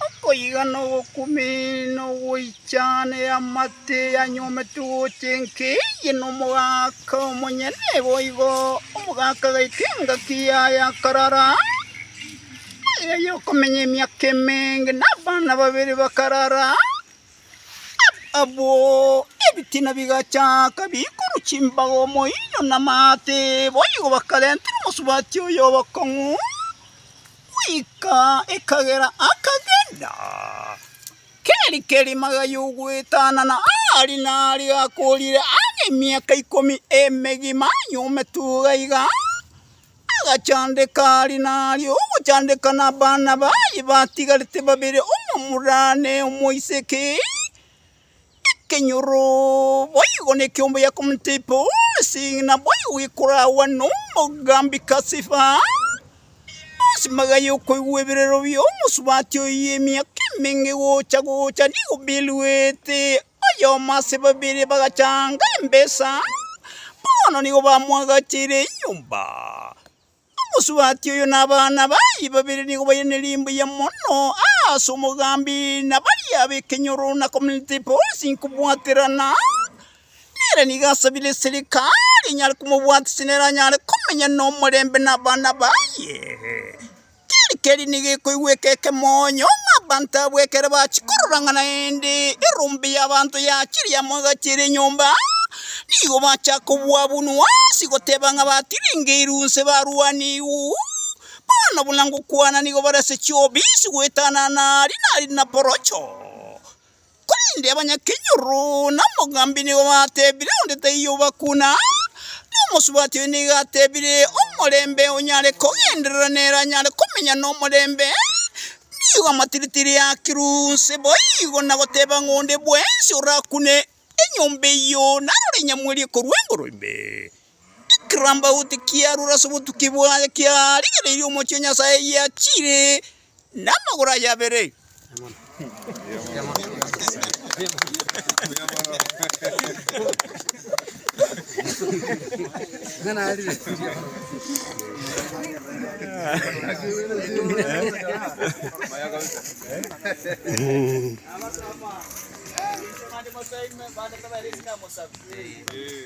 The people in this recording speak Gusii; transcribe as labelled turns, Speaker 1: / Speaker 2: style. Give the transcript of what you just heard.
Speaker 1: Okoigana ogokumina ogoichana eamate eanyometwe gocha enka eye nomogaka omonyene, boigo omogaka agaika engaki yaye akarara amo nere, aye okomenya emiaka emenge, na abana babere bakarara amo. Abwo ebitina bigachaaka biikorwa chimbaga omoinyo namaate, boigo bakarentera omosubati oye obokong'u, goika ekagera akagenda. Keri kerima gay'ogoetanana aari naari gakoorire ang'e emiaka ikomi emegima, nyume tu gaiga. Agachandeka aria na aria, ogochandeka nabana baye batigarete babere, omomura ne omoiseke, ekenyoro, boigo nekiombe ya komotaipa onsi, naboigo gekoragwa nomogambi Kasifa, onsi magaye okoigwa eberero bi'omosubati oyio emiaka emenge gocha gocha nigo biruete. oyomo ase babere bagachanga embesa, bono nigo bamwagacheire enyomba. Omosubati oyo na abana baye babere nigo bairane rimbuya mono aase omogambi na baria b'ekenyoro na Community Policing kobwaterana. Nere nigo asabire eserikari enyare komobwatisa neranyare komenya nomorembe na abana baye. Tari keria nigo ekoigweka ekemoonyo, ng'a abanto abwo ekero bachia korora ng'a naende erombe y'abanto yachiria amo egati ere enyomba, nigo bachaka kobwabunwa ase goteba ng'a batiringeirwe nse barwaniigwe. Bono buna ngokwana nigo bare ase chiobi ase goetanana Dinari na Porocho. Korende abanyakenyoro na omogambi nigo batebire onde taiyo obakuna, na omosubati oyo nigo atebire omorembe onyare kogenderera nere anyare komenya nomorembe. Nigo amatiritiri akirwe onse boigo na goteba ng'a onde bwensi orakune enyomba eyio narore inyamwerie korwa engoroimbe. Ekirambauti kiarure ase obotuki bwaye kiarigereirie omochie o Nyasae giachire namagoro aye abere.